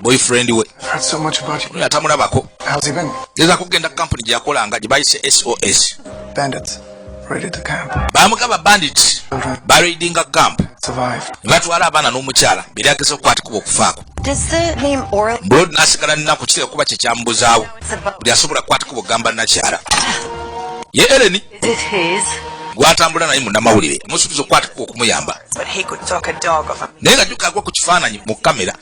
boyfriend we oyo atamulabako geza kugenda kampuni gyeyakolanga gyebayise sos bamugaba bandit baraidinga camp nebatwala abaana n'omukyala beri ageza okukwatikubwa okufaako bulod nasigala nnaku kitera kuba kyekyamubuzaawo buli asobola kukwatikubwa okugamba nakyala ye eleni gwatambula naye munamawulire musuubiza okukwatikubwa okumuyamba naye nga jukagwa ku kifaananyi mu kamera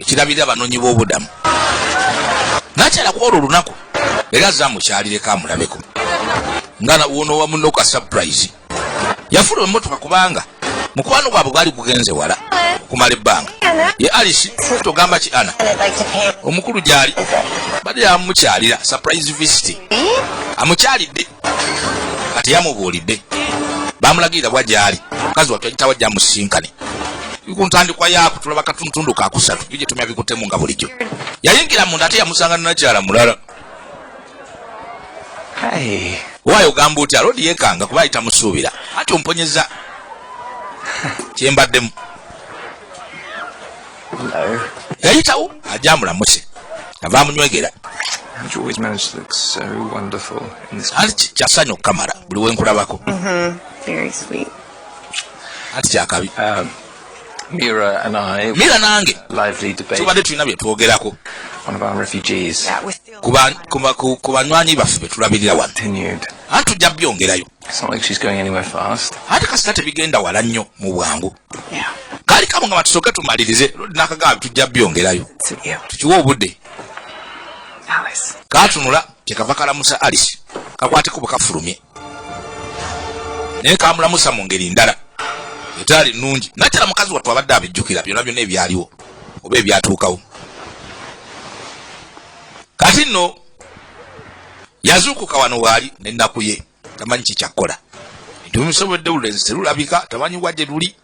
ekirabirira abanoonyi b'obudamu nakyala ku olwo olunaku era aze amukyalireko amulabeko nga wono wamuno ka surprise yafuna emotoka kubanga mukwano gwabwe gwali gugenze wala okumala ebbanga ye alice togamba ki ana omukulu gyali badde yamukyalira surprise visit amukyalidde kati yamubuulidde bamulagirira bwa gyali omukazi wattu yagitawa jamusinkane kuntandikwa yaako tulaba katuntundu kakusatu bigitumya bikutemu nga bulijjo yayingira munda ate yamusanga ninakyala mulala waayo ogamba otya lodi yekanga kuba ayita musuubira ati omponyeza kyembaddemu yayitawo ajja amulamuse ava amunywegera anti kyasanyu okukamala buli wenkulabako mm-hmm. anti kyakabi um, Mira and I Mira nange lively debate tubadde tulina bye twogerako one of our refugees kuba kuba kubanywanyi baffe betulabirira wano anti tujja byongerayo ate kasita tebigenda wala nnyo mu bwangu kali kamu nga batusooke tumalirize nakagaabi tujja byongerayo tukiwe obudde katunula kyekava kalamusa alice kakwateko bwe kafulumye naye kamulamusa mu ngeri ndala etaali nungi nakyala mukazi wattu abadde abijjukira byona byona ebyaliwo oba ebyatuukawo kati nno yazuukuka wano waali nenaku ye tamanyi kikyakkola bintu bimusobodde olulenzi terulabika tamanyi wa gye luli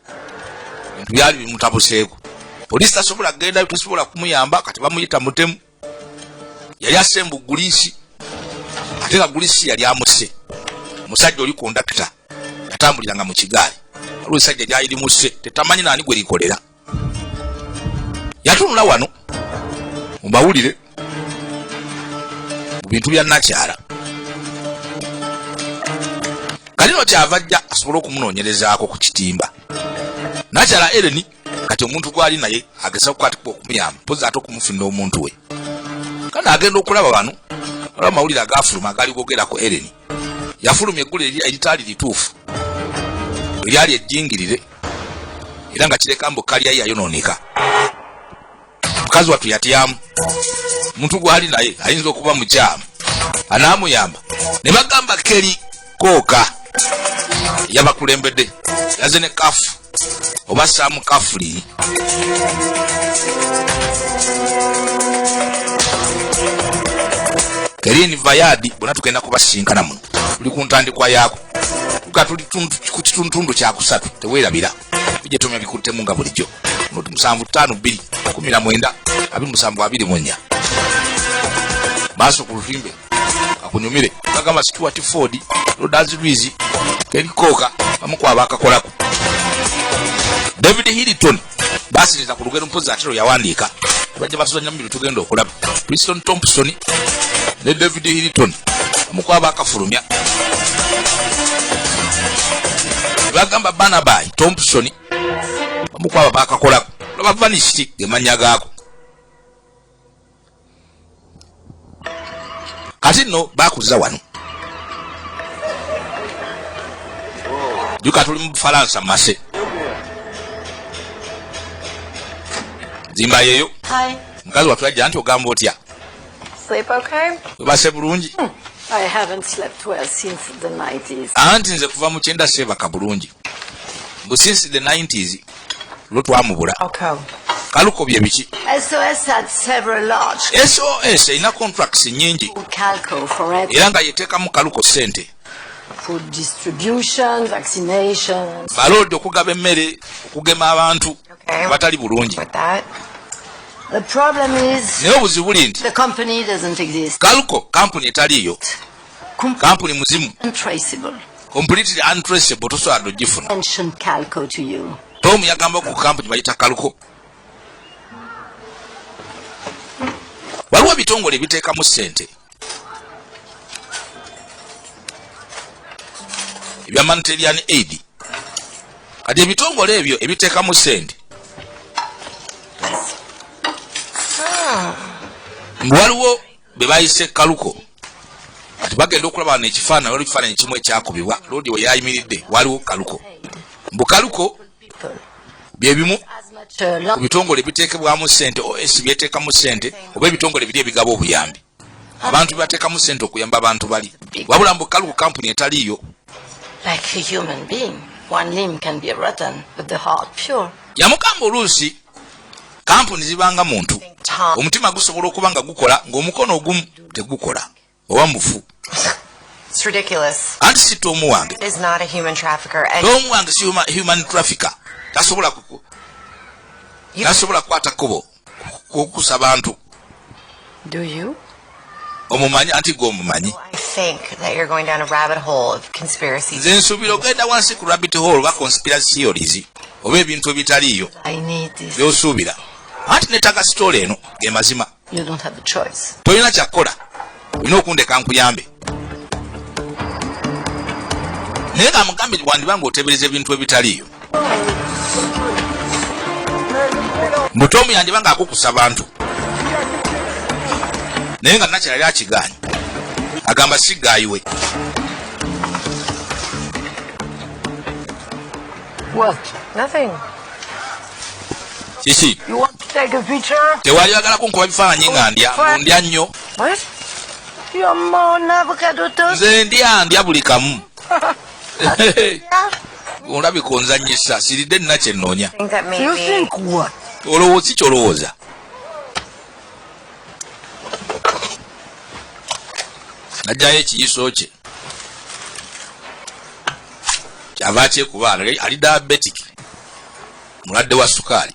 bintu byali bimutabuseeko poliisi tasobola kugendayo tesobola kumuyamba kati bamuyita mutemu yali asembu guliisi ate nga guliisi yali amusse omusajja oli kondakita yatambuliranga mu kigaali waliwo esajja lyali limusse tetamanyi naani gwe likolera yatunula wano mu mawulire mu bintu bya nakyala kalino kyava ajja asobole okumunoonyerezaako ku kitimba nakyala ereni kati omuntu gwali naye ageza kukwatibwa okumuyamba pozi ate okumufunira omuntu we kana agenda okulaba bano olaba amawulire agafuluma agali gogera ku ereni yafulumya eggulu eritaali lituufu eryali ejjingirire era nga kireka mbu kalyayi yayonooneka mukazi wattu yatyamu omuntu gwali naye ayinza okuba mukyamu anaamuyamba ne bagamba keri kooka yabakulembedde yaze ne kafu oba sam kafuli kerin vayadi bona tugenda kubasinkana muno tuli ku ntandikwa yaako tuka tuli ku kituntundu kyakusatu tewerabira tujja tomya bikuttemu nga bulijjo muti musanvu ttaano bbiri kumi na mwenda abi musanvu abiri munya maaso ku lutimbe akunyumire bagamba stuart ford rodas luis keri kooka bamu ku abakakolako david hilton basiriza ku lugero mpozi ate lwe yawandiika tubajja batuzanya mu bino tugenda okulaba priston thompson ne david hilton bamu ku abakafulumya bagamba banabai thompson bamu ku abo bakakolako lwabavanisiti gemanya gaako kati nno bakuza wano juka tuli mu bufalansa mase zimba yeyo mukazi watu ajja nti ogamba otya base bulungi hmm. anti nze kuva mu kyenda seebaka bulungi mbu since the 90s lwo twamubula kaluko bye biki sos erina contracts nyingi era nga yeteekamu kaluko sente baloodi okugaba emmere okugema abantu abatali bulungi naye obuzibu buli nti kaluko kampuni etaliiyo kampuni muzimu completely untraceable tosobola dogifuna tom yagamba ku kampuni bayita kalko waliwo ebitongole ebiteekamu sente ebya manterian aid kati ebitongole ebyo ebiteekamu sente ah. waliwo be bayise ekkaluko kati bagenda okulaba wano ekifaananyi waliwo ekifaananyi kimu ekyakubibwa loodi we yayimiridde waliwo kaluko mbu kaluko bye bimu ku bitongole ebiteekebwamu ssente os byeteekamu ssente oba ebitongole biri ebigaba obuyambi abantu bebateekamu ssente okuyamba abantu bali wabula mbu kaluko kampuni etaliiyo yamugamba oluusi kampuni zibanga muntu omutima gusobola okuba nga gukola ng'omukono ogumu tegukola oba mufu anti si tomu wange tomu wange si human trafficker tasobola tasobola kukwata kkubo kukusa bantu Do you? omumanyi anti gwe omumanyi nze nsuubira ogenda wansi ku rabbit hall oba conspiracy theories oba ebintu ebitaliiyo byosuubira anti netaga sitoola eno gemazima tolina kyakukola olina okundeka nkuyambe naye nga mugambe wandiba nga otebereza ebintu ebitaliyo mutomu yandiba nga akukusa bantu naye nga nakira yali akigaanyi agamba sigaayiwe kiki tewali bagala kunkuba bifaananyi nga ndya ndya nnyo nze ndya ndya buli kamu olabika onzanyisa siridde nina kyenoonya olowooza ki kyolowooza najjayo ekiyiso kye kyava kyekuba ali diabetic mulwadde wa sukaali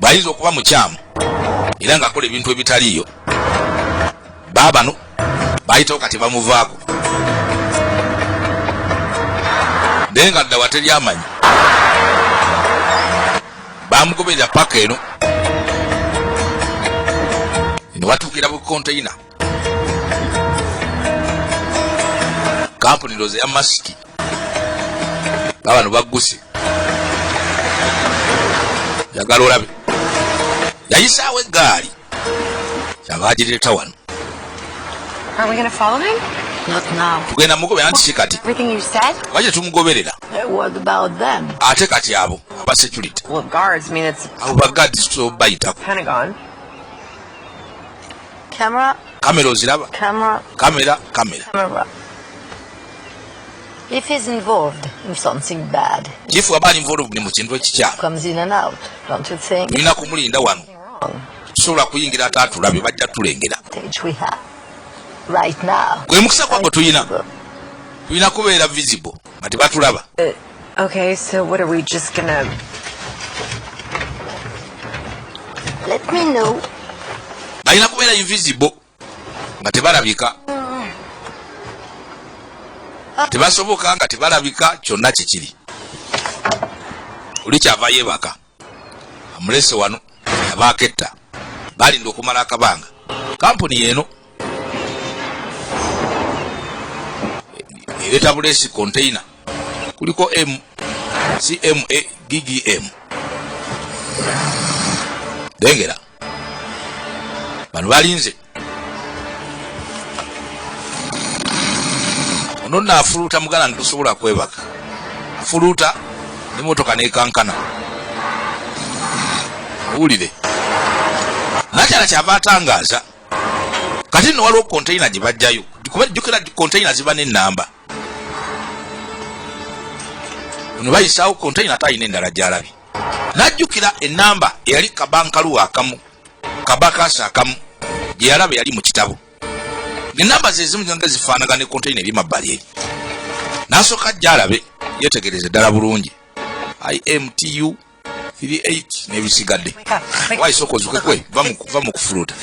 bwayinza okuba mukyamu era ng'akola ebintu ebitaliiyo baabano bayitawo kati bamuvaako naye nga ddawa teri amanyi bamugoberera paka eno newatuukira bukonteyina kampuni ndoozi eya masiki babano bagguse yagala olabe yayisaawo eggaali kyaba agireeta wano tugenda mugobera nti ki kati oba kye tumugoberera ate kati abo aba security abo bagadis bayitako Camera. Kamera oziraba? Camera. Kamera, kamera. Camera. If he's involved in something bad. Chief aba involved mu kintu ekikyamu. Comes in and out. Don't you think? Nina kumulinda wano. Sobola kuyingira atatulabye bajja tulengera. We have right now. Gwe mukisa kwako tuyina. Tuyina kubeera visible. nga tebatulaba uh, okay so what are we just gonna let me know balina kubeera invisible nga tebalabika tebasoboka nga tebalabika kyonna kikiri oli kyava yebaka amulese wano abaaketta balinda okumala akabanga kampuni yeeno ereeta buleesi containa kuliko m cma ggm dengera bano balinze ono nno afuluuta muganda nti tosobola kwebaka afuluuta ne motoka nekankana owulire nakyala kyava atangaaza kati nno waliwo konteyina gye bajjayo kuba jjukira konteyina ziba n'ennamba ono bayisaawo konteyina ate alina endala gyalabi najjukira enamba eyali kabankaluwa akamu kabakasa akamu gyeyalaba yali mu kitabo enamba zezimu nga zifaanaga ne konteyina ebyemabbali eri nasooka jjalabe yetegereze ddala bulungi imtu biri 8 nebisigadde waisoko zukekwe va mu kufuluuta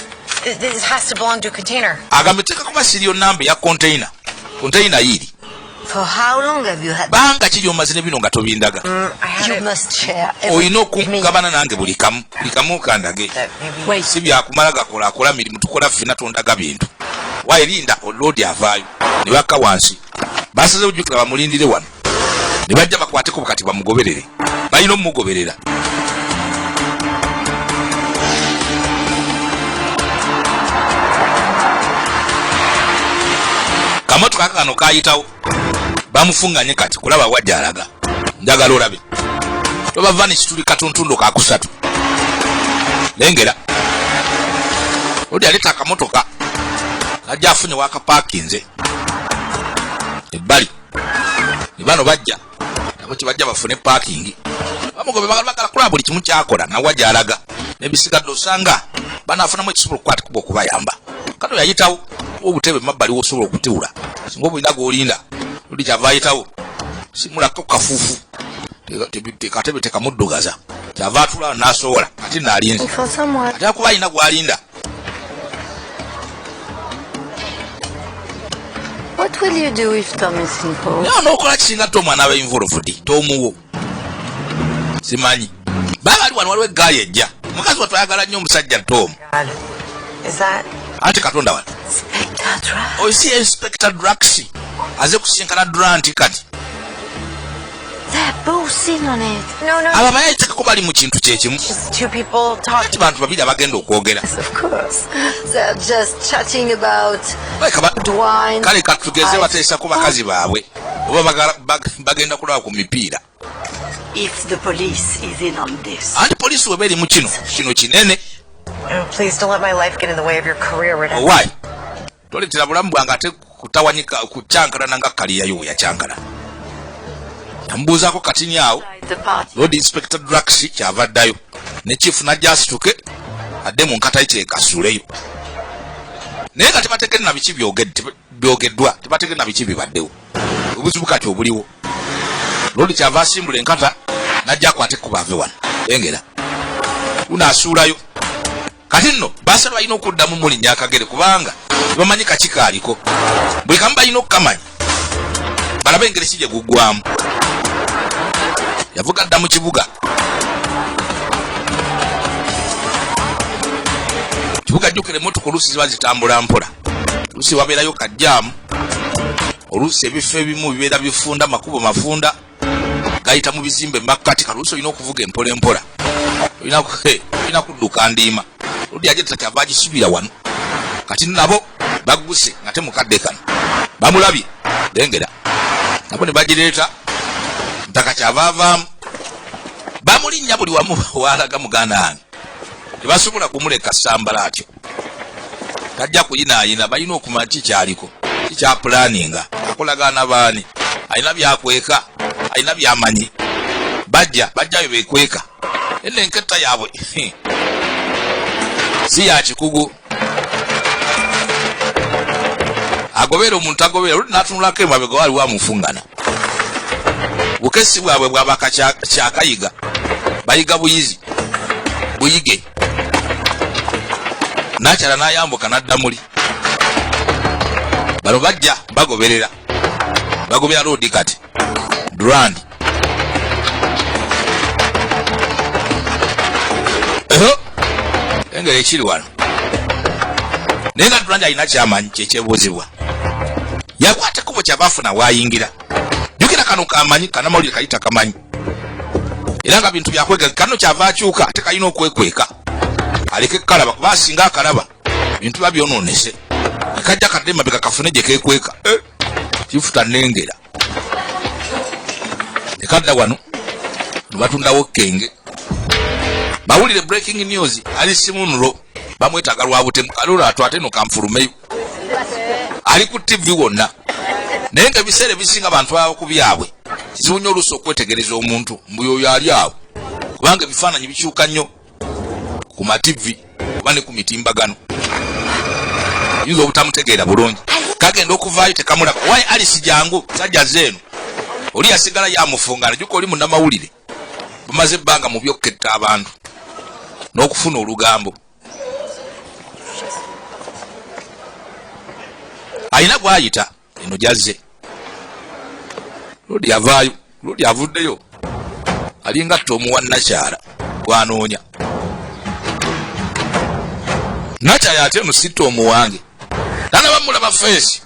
agambye teeka kuba siriyo namba ya containa containa yiiri banga ki lyomaze ne bino nga tobindaga mm, olina okugabana nange buli kamu buli kamu kandage si byakumala gakola akola mirimu tukola ffena tondaga bintu waerinda oloodi avaayo ne bakka wansi basaze ojjukira bamulindire wano ne bajja bakwateko kati bamugoberere balina omugoberera kamotoka kano kayitawo bamufunganye kati kulaba wajja alaga njagala olabe tobava nekituli katuntundo kakusatu lengera odi aleta akamotoka kajja afunye wakapakinze ebbali bano bajja nabo kibajja bafune pakingi bamugobe bagala kulaba buli kimu kyakola nawa gyalaga nebisigadde osanga banafunamu ekisobola okukwatikuba okubayamba kano yayitawo obutebe mabbali wosobola okutiwula singa obulina gwolinda oli kyava ayitawo simulako kafuufu tekatebe tekamuddugaza kyava atula nasowola ate nalinze ate akuba alina gwalinda What will you do if Tom is involved? No, no, kwa chinga Tom anawe involved. Tom wo. Simanyi. Baba ali wano waliwe guy ejja. Mukazi watu ayagala nnyo omusajja Tom. Is that Ate katonda wano. Inspector Drax. Oyo si Inspector Drax. Aze kusinkana Durant kati. abamanyi agitekako bali mu kintu kyekimu kati bantu babiri abagenda okwogera kale katugeze bateesa ku bakazi baabwe oba bagenda kulaba ku mipiira anti poliisi weba eri mu kino kino kinene oh, Why? toletera bulamu bwange ate kutawanyika kukyankalana nga kaliyayo weyakyankala namubuuzaako katini awo lord inspector draxi kyava ddayo ne chief najja asituke adde mu nkatayi kyekasuuleyo naye nga tebategere na biki byogeddwa tebategere na biki bibaddewo obuzibu kati obuliwo lord kyava asimbula enkata najja akwate kubaave wano engera unaasuulayo kati nno basala balina okuddamu mulinya akagere kubanga bamanyi kaki kaaliko buli kamu balina okukamanya balabe engeri si gye guggwamu yavuga dda mu kibuga kibuga jjukira emmotoka oluusi ziba zitambula mpola oluusi wabeerayo kajjaamu oluusi ebifo ebimu bibeera bifunda makubo mafunda gayita mu bizimbe makkati kaluusi olina okuvuga empola empola olina kudduka ndiima oludi aje tata kyava agisubira wano kati nabo bagguse nga te mukadde kano bamulabye lengera nabo ne bagireeta ntaka kyava avaamu bamulinnya buli wamu waalaga muganda wange tebasobola kumuleka sambala atyo tajja kuyinaayina balina okumanya kikyaliko kikyapulaninga akolagaana baani alina byakweka alina byamanyi bajja bajjayo bekweka ene enketta yaabwe si yakikugu agobeera omuntu agobeera oluti natunulako emabega waliwo amufungana bukesi bwabwe bwabaka kyakayiga bayiga buyizi buyige nakyala nayambuka nadda muli bano bajja bagoberera bagobera loodi kati durandi engeri ekiri wano naye nga durandi alina kyamanyi kyekyebuuzibwa yakwata kubo kyabafuna wayingira jukira kano kamanyi kanamawulire kayita kamanyi era nga bintu byakwegaka kano kyava akyuka ate kalina okwekweka aleke kukalaba kuba asinga akalaba bintu ba byononese kajja kadde mabega kafune gye kekweka eh, kifuta nengera nekadda wano nebatundawo kenge bawulire breaking news ali simunro bamwetaga lwabutemu kalula atwate no kanfulumeyo ali ku tivi wonna naye nga ebiseera ebisinga abantu baba ku byabwe kizibu nnyo oluusi okwetegereza omuntu mbu yoyo ali awo kubanga ebifaananyi bikyuka nnyo ku mativi oba ne ku mitimbagano yinza obutamutegeera bulungi kagenda okuvaayo tekamulaba waye alisi jangu sajja zeeno oli yasigala yamufungana juka oli munamawulire bumaze ebbanga mu byokketta abantu n'okufuna olugambo alina gwayita eno gyazze lodi avaayo lodi avuddeyo alinga tomuwa nakyala gwanoonya nakyala ate eno si tomu wange nanabamulaba feesi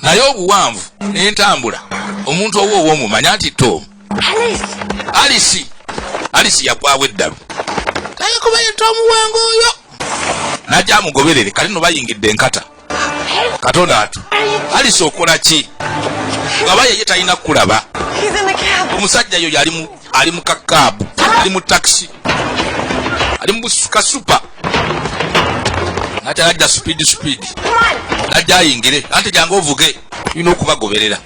naye obuwanvu n'entambula omuntu owo owomumanya nti tomu alisi alisi yagwawo eddalu naye kuba yeta omuwango oyo naja amugoberere kati no bayingidde enkata katonda atu alisi okola ki ngaba yeye talina kukulaba omusajja yoyo ali mu kakaabu ali mu takisi ali mu kasupa ate ajja speed speed najja ayingire ante jangu ovuge tulina okubagoberera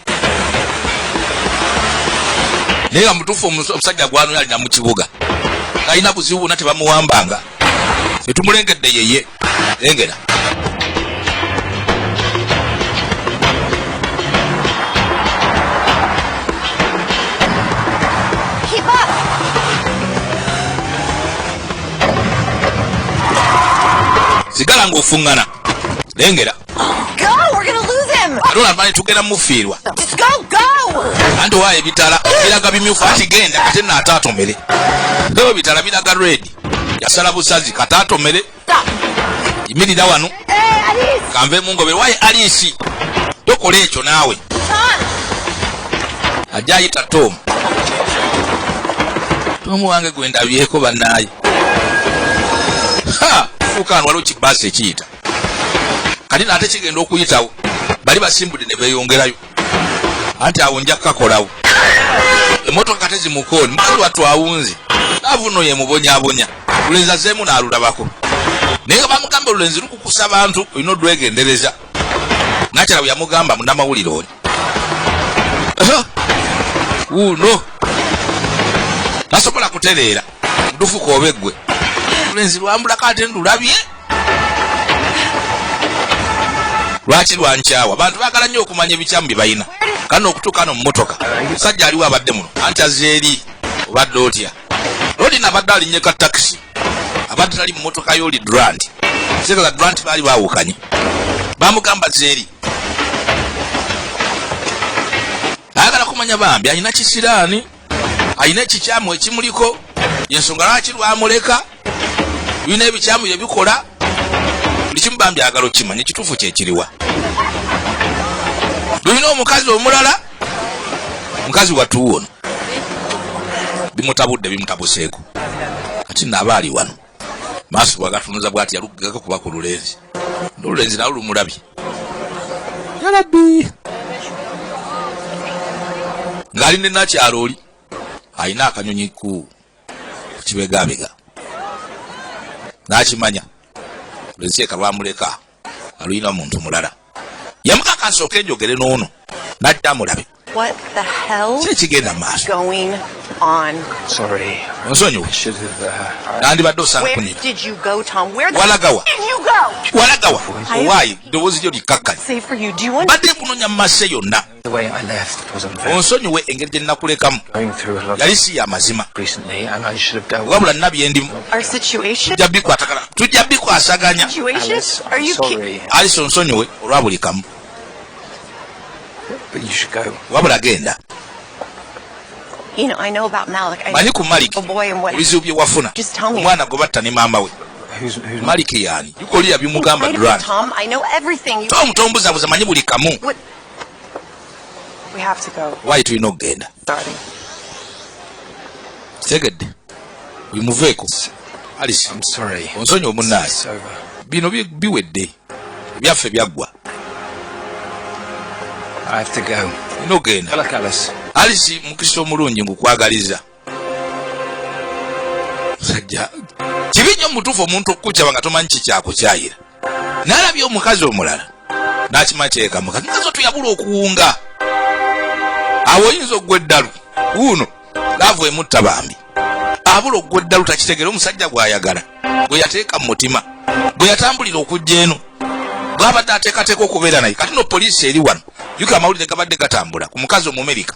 naye nga mutuufu omusajja gwanoyo alina mu kibuga alina buzibu bona tebamuwambanga etumulengedde yeye lengera sigala ng'ofuŋŋana lengera atona mani tugenda mufiirwa anti owayo ebitala biraga bimyufu anti genda kate naate atomere ebitala biraga redi yasala busazi kate atomere yimirira wano kanve mungobe wayi aliisi tokola ekyo naawe ajja ayita tom tom wange gwe ndabyeko bannaaye fuukaano waliwo kibaasi ekiyita kati naate kigenda okuyitawo bali basimbudde ne beeyongerayo anti awo nja kukakolawo emotoka tezimukooni mukazi wattu awunze avuno yemubonyabonya lulenzi azeemu naalulabako naye nga bamugamba olulenzi lukukusa abantu olina odwegendereza nakyala bwe yamugamba munamawulire oli uno tasobola kutereera ndufuka oba eggwe lulenzi lwambulako ate ndulabye lwaki lwankyawa bantu bagala nnyo okumanya ebikyamu bye balina kana okutuuka no mumotoka musajja aliwo abadde muno anti azze eri obadde otya lolina abadde alinye ka takisi abadde tali mumotoka yoli durant zebala durant baali bawukanye bamugamba zeeri ayagala kumanya bambi alina kisiraani alina ekikyamu ekimuliko yensonga lwaki lwamuleka birina ebikyamu byebikola buli kimu bambi agala okimanya ekituufu kyekiriwa lulina omukazi omulala mukazi watuuwono bimutabudde bimutabuseeko kati naaba ali wano maaso bwagatunuza bwati yalugaga kuba ku lulenzi nolulenzi nawe lumulabye yalabi ng'ali ne nakyalo oli alina akanyonyi ku kibegabega n'akimanya lwensi eka lwamuleka aluyina muntu mulala yamukaka nsooka enjogere n'ono najja amulabe kyekigenda maaso onsonyiwa uh, nandibadde osanga kunira walagawa walagawa owaayi ddoboozi lyo likkakkanya badde kunonya mu masse yonna onsonyiwe engeri gye nnakulekamu yali si ya mazima wabula nna bye ndimu tujja bikwatagana tujja bikwasaganya alisi onsonyiwe olwa buli kamu wabula genda manyi ku maliki oh, ebizibu bye wafuna omwana gwe batta ne maama we maliki yaani bikoliya bimugamba duran tom tombuzabuza manyi buli kamu wayi tulina okugenda kitegedde bimuveeko alice onsonyi omunaali bino biwedde ebyaffe byaggwa ina ogenda alice mukisa omulungi ngukwagaliza musajja kibi nnyo mutuufu omuntu okukukyaba nga tomanyi kikyakukyayira nalabye omukazi omulala nakima kyekamuka nazo tuyabula okuwunga awo oyinza okugwa eddalu wuuno laavu emutta bambi abula okugwa eddalu takitegere omusajja gwayagala gwe yateeka mu mutima gwe yatambulira okujja eno bwabadde ateekateeka okubeera naye kati no poliisi eri wano yuko amawulire gabadde gatambula ku mukazi omumerika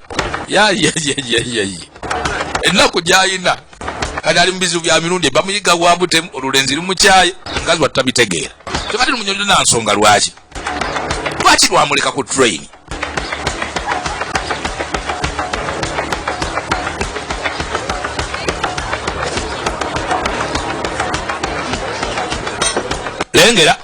ennaku gyayina kati ali mubizibu bya mirundi bamuyiga wabutemu olulenzi lumukyaye mukazi wattu tabitegeera kyokati lumunyonyo nansonga lwaki lwaki lwamuleka ku train lengera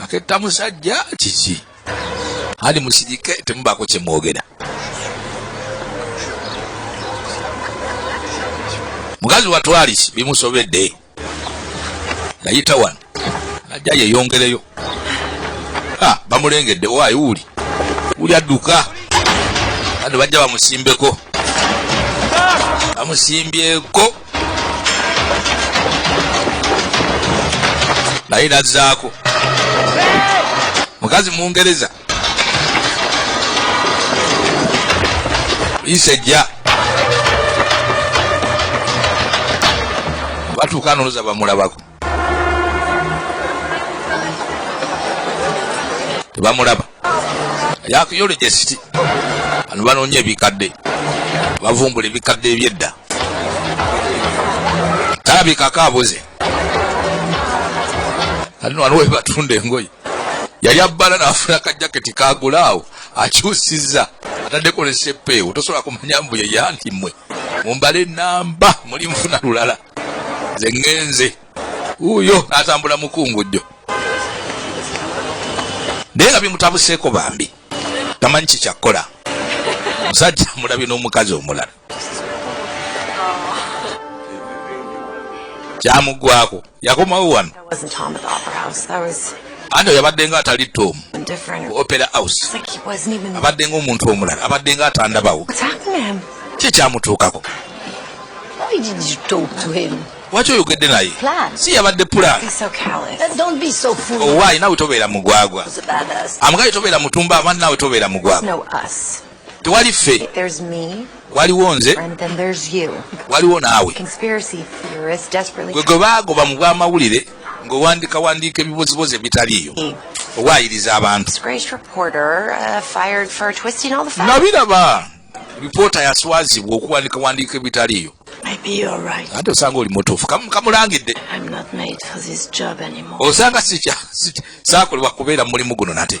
aketta musajja kiki ali musirike temubaako kyemwogera mukazi watwalis bimusobedde nayita wano najja yeyongereyo ah, bamulengedde waayi wuli wuli adduka bano bajja bamusimbeko bamusimbyeko naye nazzaako mukazi mungereza isejja batuuka noluza bamulabako tebamulaba yakuyola gyesiti bano banoonya ebikadde bavumbula ebikadde ebyedda talabikako abuze ati wano webatunda engoye yali abbala nafuna kajaketi kagulaawo akyusiza ataddeko nesepeewo tosobola kumanya mbu yeyandimwe mumbale namba muli nfuna lulala nze ŋŋenze wuuyo atambula mukungujjo naye nga bimutabuseeko bambi tamanyi kikyakkola musajja mulabye n'omukazi omulala kyamugwako yakomawo wano ante yabadde nga atali tom ku opera house abadde nga omuntu omulala abadde nga atandabawo ki ekyamutuukako waki oyogedde naye si yabadde pulaanowaayi nawe tobeera mugwagwa amugaye tobeera mutumba abandi nawe tobeera mugwagwa tewali ffe waliwo nze waliwo naawe gwe gwe baagoba mu bw'amawulire ng'owandika wandiika ebibozibozi ebitaliiyo owaayiriza abantu uh, nabiraba ripoota yaswazibwa okuwandika wandiika ebitaliiyo ate osanga oli mutuufu kamulangidde osanga saakolebwa kubeera mu mulimu guno nate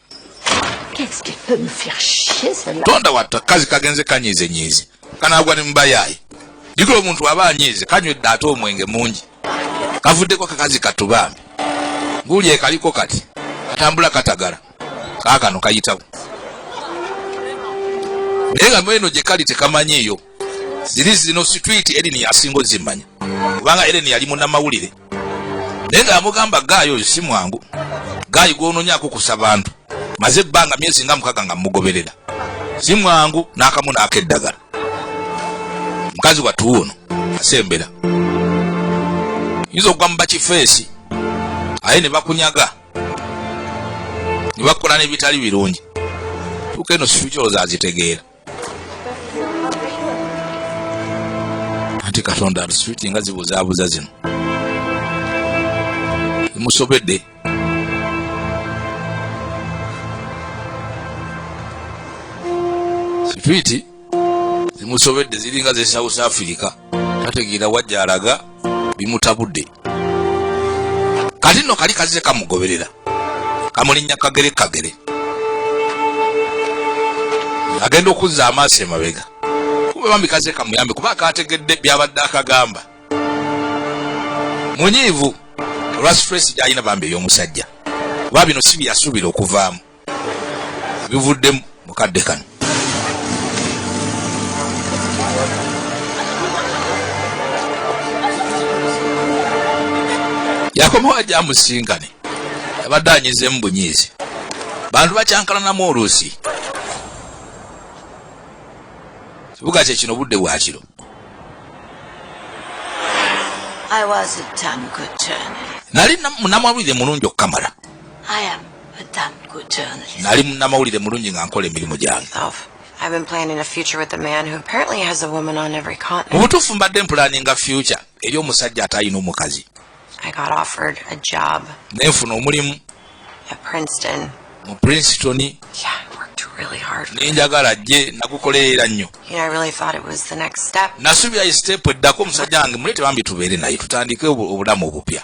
tonda watta kazi kagenze kanyiize nyiize kanaagwa ne mubayaayi jukira omuntu aba anyiize kanywedde ate omwenge mungi kavuddeko kakazi kattu bambi guuli ekaliko kati katambula katagala kaakano kayitawo naye nga mweno gye kali tekamanyiiyo ziri zino situiti erini yasinga ozimanya kubanga erini yali munamawulire naye nga yamugamba gaayi oyo si mwangu gaayi gwononyako kusa bantu maze ebbanga myezi nga mukaga nga mugoberera si mwangu n'akamu naako eddagala mukazi wattu ono asembera yinza okugwa mu bakifeesi aye ne bakunyaga ne bakola n'ebitali birungi tuuka eno situkyooza azitegeera ate katonda abiswiti nga zibuzaabuza zino musobedde sitwiti zimusobedde ziringa ze south africa tategeera wajja alaga bimutabudde kati nno kali kazze kamugoberera kamulinnya kagere kagere agenda okuzza amaaso emabega kumbe bambi kazze kamuyambe kuba akategedde byabadde akagamba munyiivu olwa stress gyalina bambi ey'omusajja kuba bino si byeyasuubira okuvaamu bivudde mu kadde kano yakomawo ajja amusisinkane abadde anyizeemu bunyiizi bantu bakyankalanamu oluusi kibuga kye kino budde bwa kiro nali munamawulire mulungi okukamala nali munnamawulire mulungi nga nkola emirimu gyange mu butuufu mbadde mpulaninga fyuca eri omusajja ate alina omukazi nenfuna omulimu mu princeton nenjagala jje nagukolerera nnyo nasuubira isitepu eddako omusajja wange mulete bambi tubeere naye tutandike obulamu obupya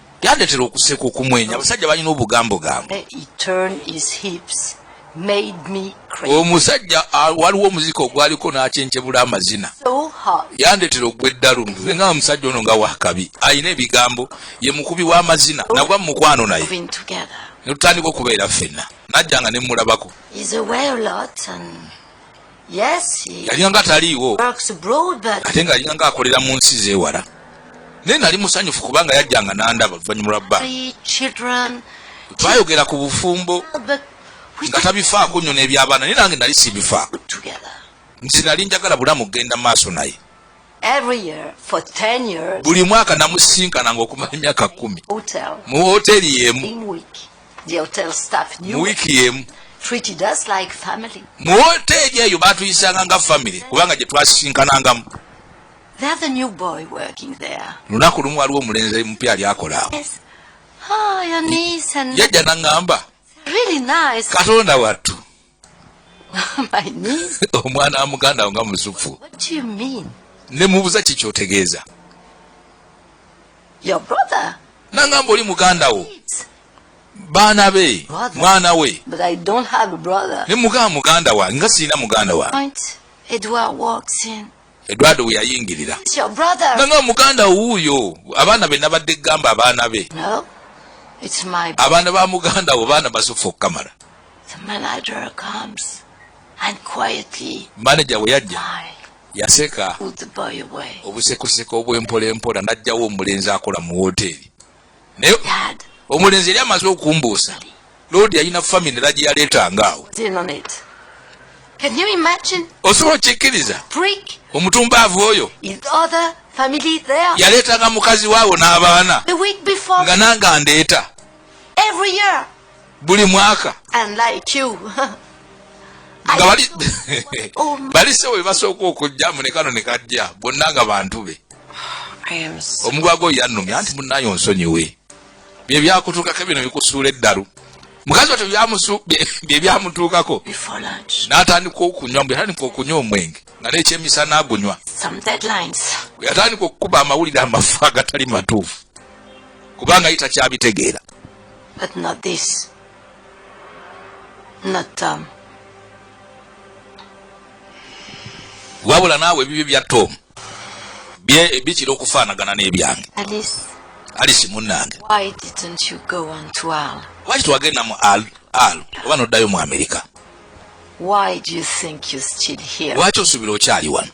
yandetera okuseka okumwenya abasajja balina obugambo gambo omusajja ah, waliwo omuzika ogwaliko n'akyenkyebula amazina yandetera ogwa eddalu nga omusajja ono nga wakabi alina ebigambo ye mukubi w'amazina nagwa mu mukwano naye netutandika okubeera ffenna najjanga ne mmulabako yalinganga taliiwo ate nga yalinganga akolera mu nsi zewala naye nali musanyufu kubanga yajjanga nandaba oluvannyuma lwa bba twayogera ku bufumbo nga tabifaako nnyo n'ebyabaana naye nange nali sibifaako nti nali njagala bulamu kugenda maaso naye buli mwaka namusisinkananga okumala emyaka kumi mu hoteri yemu mu wiiki yemu mu hoteri eyo batuyisanga nga famiry kubanga gye twasisinkanangamu lunaku lumu waliwo omulenzi mupya ali akola awo ah, yajja naŋŋamba katonda wattu omwana wa muganda nga muzufu ne mubuza kikyotegeeza nangamba oli muganda wo baana be mwana we ne mugamba muganda wange nga sirina muganda wange Eduardo we yayingirira nanga muganda wuuyo abaana be nabadde gamba abaana be abaana ba muganda wo baana basuffa okukamala manaja we yajja yaseka obusekoseko obwempola empola najjawo omulenzi akola mu woteeri naye omulenzi yali amaze okumbuusa loodi yalina famine era gyeyaleetanga awo osobola okikkiriza omutumbaavu oyo yaleetanga mukazi waawo n'abaana nga nange andeeta buli mwaka nga bali oh, balise we basooka okujja munekano ne kajja bonna nga bantu be omugwago yannumya nti munayo nsonyiwe bye byakutuukako bino bikusuula eddalu mukazi watyo bye byamutuukako n'atandika okunywa mbu yatandika okunywa omwenge nga n'ekyemisana agunywa yatandika okukuba amawulire amafu agatali matuufu kubanga ye takyabitegeera But not this. Not Tom. wabula naawe ebibyo bya tom bikira okufaanagana n'ebyange alisi munnange lwaki twagenda mu al al oba n'oddayo mu amerika lwaki osuubira okyali wano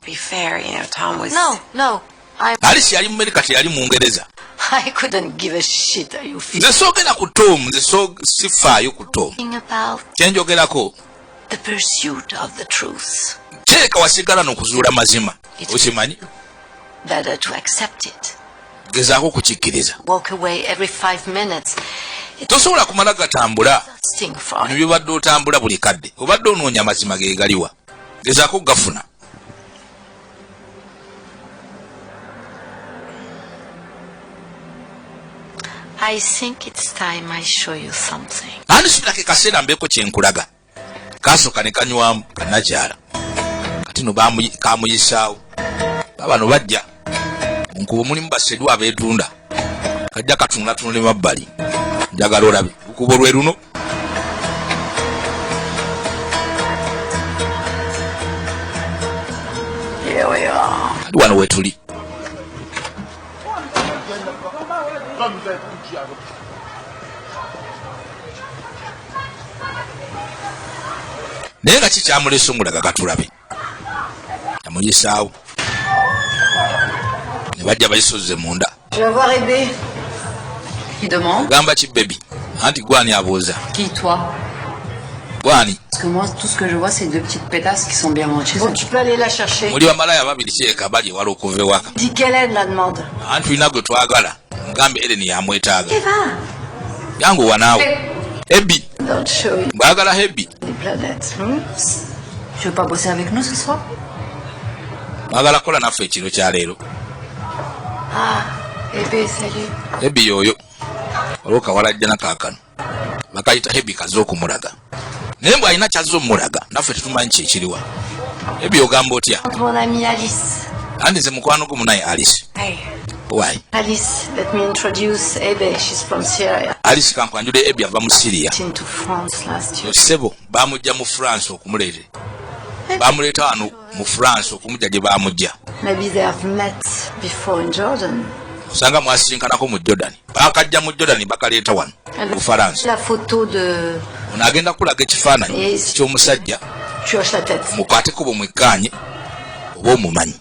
Alice yali mu America teyali mu Ngereza. I couldn't give a shit are you feeling. Nze soogera ku Tom, nze so sifaayo ku Tom. Kye njogerako. The pursuit of the truth. Kireka wasigala n'okuzuula mazima. Okimanyi? Better to accept it. Gezaako kukikkiriza. Walk away every five minutes. Tosobola kumala gatambula. Bino byobadde otambula buli kadde. Obadde onoonya amazima ge galiwa. Gezaako gafuna. I think it's time I show you something. Ani sula ke kasera mbeko kyenkulaga. Kaso kane kanywa kanajara. Kati no bamu kamu yisao. Baba no bajja. Nkubo muli mbasedwa betunda. Kajja katunga tunule mabali. Njagala olabi. Kubo lweruno. wano wetuli naye nga kikyamulesungulaga katulabe yamuyisaawo ne bajja bayisozze munda ogamba ki bebi anti gwani abuuza gwani muli bamalaya babiri kyeka bali ewala okuva ewaka anti tulina gwe twagala mugambe Ellen yamwetaaga yangu wanaawe Ebi mbagala Ebi mwagala kukola naffe ekiro kya leero ah, Ebi yoyo olwokawalajjana kaakano bakayita hebi kaze okumulaga naye mbwe alina kyazze omulaga naffe tetumanyi kyekiriwa ebyo ogamba otya andi nze mukwano gumu naye alice Why? Alice, let me introduce Ebe. She's from Syria. Alice kankwanjule Ebe ava mu Syria. Into France last year. Sebo, bamujja mu France okumulete. Bamuleta wano mu france okumujja gye baamujja osanga mwasinkanako mu jordan bakajja mu jordan bakaleeta wano mu faransa ono agenda kulaga ekifaananyi ky'omusajja mukwateko bwe mwekkaanye oba omumanyi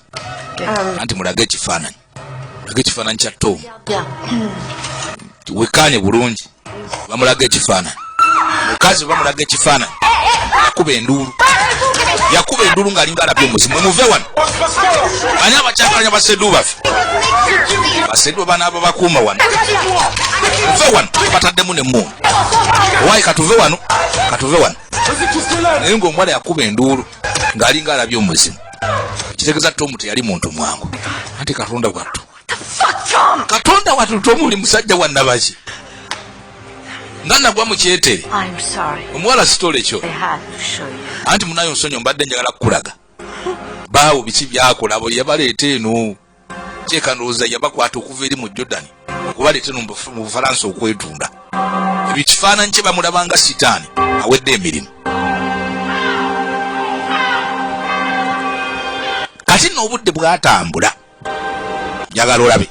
um, anti mulage ekifaananyi laga ekifaananyi kya tom wekaanye bulungi bamulaga ekifaananyi mukazi bamulaga ekifaananyi yakuba enduulu yakuba enduulu ng'alinga alabye omuzimu emuve wano ani abakyakalanya basedu bafe basedu banaaba bakuuma wano muve wano bataddemu ne muunu owayi katuve wano katuve wano naye ng'omuwala yakuba enduulu ng'alinga alabye omuzimu kitegeza tomu teyali muntu mwangu anti katonda wattu katonda wattu tomu oli musajja wa nabaki nga nagwa mukyetere omuwala sitole kyo anti munayo nsonyo mbadde njagala kukulaga baawo biki byakola bo yabaleeta eno kyeka ndowooza yabakwata okuva eri mu jordan okubaleeta no mu bufalansa okwetunda ebyo kifaananyi kye bamulabanga sitaani awedde emirimu kati no obudde bwatambula njagala olabe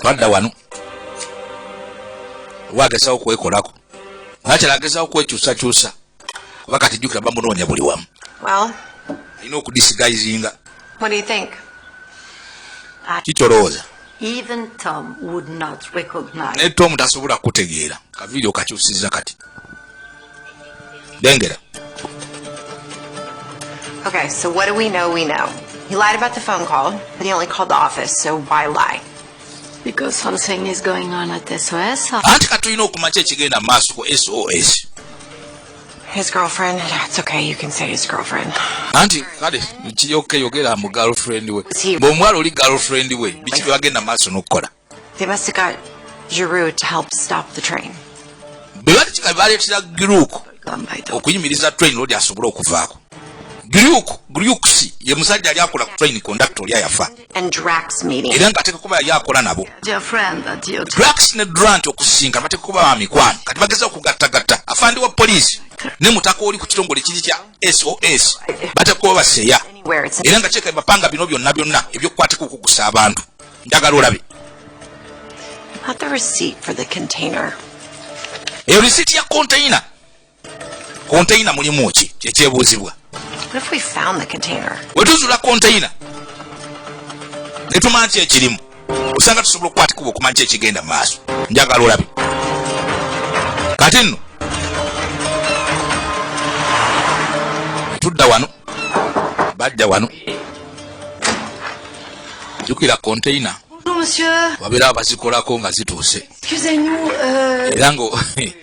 twadda wano wagezawo kwekolako nakyala agezawo kwekyusakyusa kuba kati jjukira bamunoonya buli wamu alina okudisigayizinga kikyolowooza naye tomu tasobola kukutegeera kaviiri okakyusiza kati lengera Okay, so what do we know? We know. He lied about the phone call, but he only called the office, so why lie? anti kati tulina okumanya ki ekigenda mu maaso ku sos His girlfriend. It's okay. You can say his girlfriend. Anti kale kiyoke yogera mu girlfriend we. Bo mwalo li girlfriend we. Bichi bagenda maso nokukola. They must have got Giroux to help stop the train. Bebali chika bali chira Giroux. Okuyimiriza train lodi asobola okuvaako. Giroux, Giroux si ye musajja ali akola ku train conductor oli ayafa. era ng'ateeka kuba yali akola nabo drax ne drant okusinga bateeka kuba ba mikwano kati bageza okugattagatta afandi wa poliisi ne mutaka oli ku kitongole kiri kya sos bateeka kuba baseeya era nga kyeka bapanga bino byonna byonna ebyokukwateka okugusa abantu njagala olabe eyo risiiti ya konteyina konteyina mulimu ki kyekyebuuzibwa wetuzula konteyina netumanya ki ekirimu osanga tusobola okukwatikuba okumanya ki ekigenda mu maaso njagala olabi kati nno tudda wano bajja wano jukira konteyina babeera bazikolako nga zituuse euh, era nga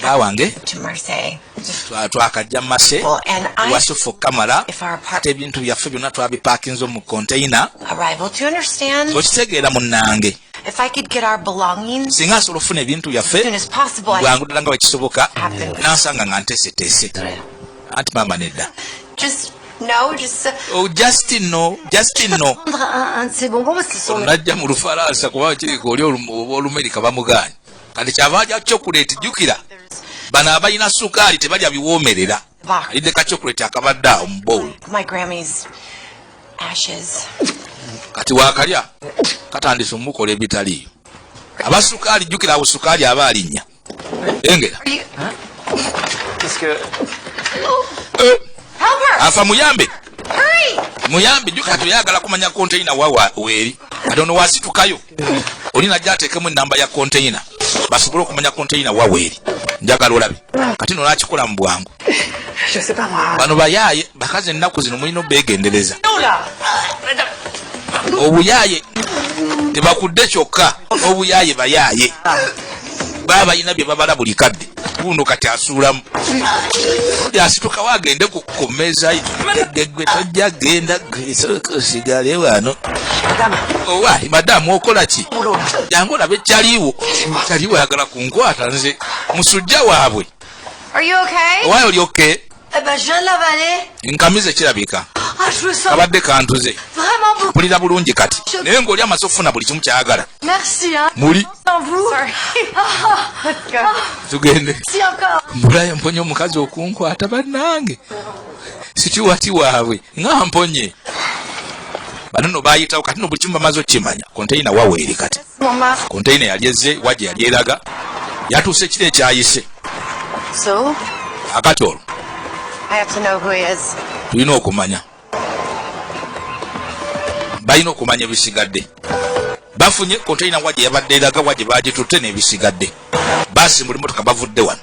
bba wange twakajja mase wasi fokka mala ate ebintu byaffe byonna twabipaakinze mu konteyina okitegeera munnange If I could get our belongings singa nsobola okufuna ebintu byaffe bwangu ddala nga bwekisoboka nansanga nga nteeseteese anti maama nedda No, just. Uh, oh, Justin, no. Justin, no. Najja mu lufalansa kuba kiri ku oli olumerika bamugaanyi. kati kyava alya chokuleti jukira bano abalina sukaali tebalya biwoomerera alidde ka chokuleti akabadde awo mu bowl kati wakalya katandise omukola ebitaliyo aba sukaali jukira awo sukaali aba alinnya engera eh. afa muyambe muyambe jukira toyagala kumanya konteyina wawa weeri kati ono wasitukayo oli najja ateekemu enamba ya konteyina basobole okumanya konteyina waweeri njagala olabi kati no nakikola mu bwangu bano bayaaye bakazi ennaku zino mulina obeegendereza obuyaaye tebakudde kyokka n'obuyaaye bayaaye baba balina bye babala buli kadde guno kati asuulamu odi asitukawo agende ku mmeeza gegwe tojja genda sigale wano owali madamu okola ki jangu olabe kyaliwo kyaliwo ayagala kunkwata nze musujja waabwe owaye oli okay nkamize kirabika kabadde kantuze mpulira bulungi kati naye ng'oli amaze okufuna buli kimu kyayagala muli tugende mbulayo mponye omukazi okunkwata bannange situwati waabwe nga mponye bano no bayitawo kati no buli kimu bamaze okukimanya konteyina waweeri kati konteyina yali ezze wa gye yali eraga yatuuse kiro ekyayise akati olwo tulina okumanya balina okumanya ebisigadde bafunye konteyina wa gye yabadde eraga wa gye baagitutte n'ebisigadde basimbula emotoka bavudde wano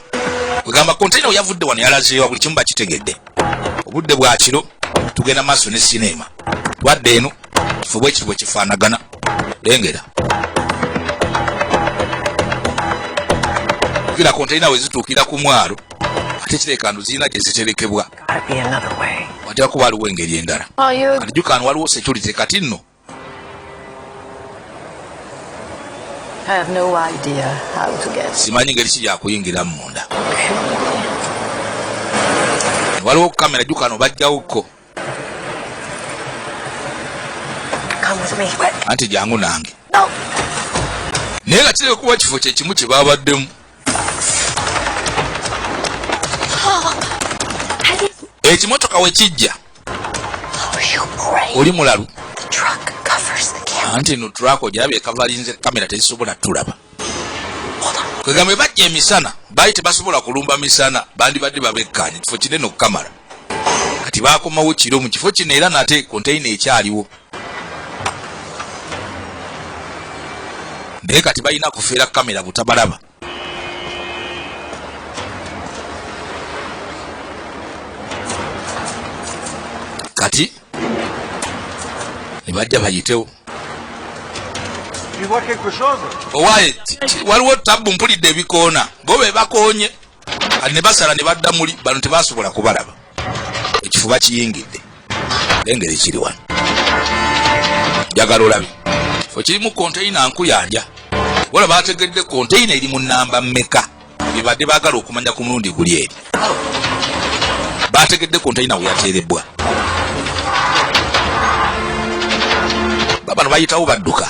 kwegamba kontaina weyavudde wano yalazeewa buli kimu bakitegedde obudde bwa kiro tugenda maaso ne sineema twadde eno kifo bwekiti bwe kifaanagana lengera kira kontaina wezituukira ku mwalo ate kirekandu zirina gye ziterekebwa watera kuba aliwo engeri endala oh, ajukaano waliwo security kati nno simanyi ngeri ki gyakuyingiramu munda waliwo kamera jukano bajjawokko anti jangu nange naye nga kireka kuba kifo kyekimu kyebabaddemu ekimotoka wekijja oli mulalu anti no truck ojabye kavalinze kamera tezisobola tulaba kwegambe bajja emisana baali tebasobola kulumba misana bandibadde babekkaanye kifo kinene okukamala kati bakomawo kiro mu kifo kino era nate konteyina ekyaliwo naye kati balina kufeera kamera butabalaba kati nebajja bayitewo owaye waliwo tabbu mpulidde ebikoona bo bebakonye ne basala ne badda muli bano tebasobola kubalaba ekifuba kiyingidde lengeri kiri wano njagala olabi fe kirimu konteyina nkuyanja wala bategedde konteyina eri mu namba meka bibadde bagala okumanya ku mulundi guli eri bategedde konteyina weyateerebbwa babano bayitawo badduka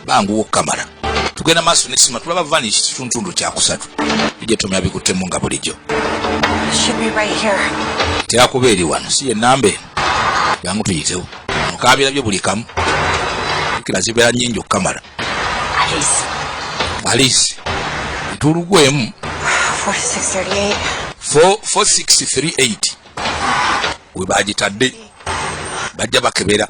banguwa okukamala tugenda maaso nesima tulaba vanish kituntundu kyakusatu bijja tomya bikuttemu nga bulijjo terakuba eri wano si yenamba eno jangu tuyitewo mukaabira byo buli kamu kila zibeera nyingi okukamala alice tulugwemu 4638 we bagitadde bajja bakebera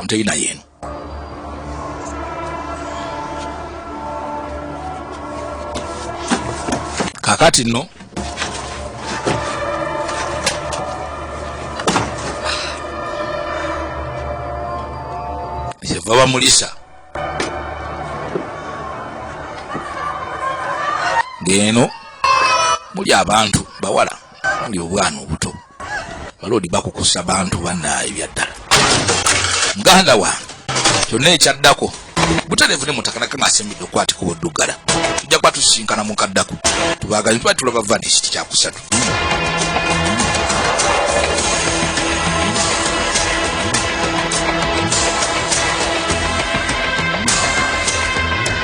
onteyina yeeno kakati no kyeva bamulisa ng'eno muli abantu bawala ndi obwana obuto baloodi bakukusa bantu banaye byaddala muganda wange kyonna ekyaddako butereevu ne mutaka nakama asembidde okwatika obuddugala tujja kuba tusisinkana mukaddako tubagazi tuba tulaba vanisi tikyakusatu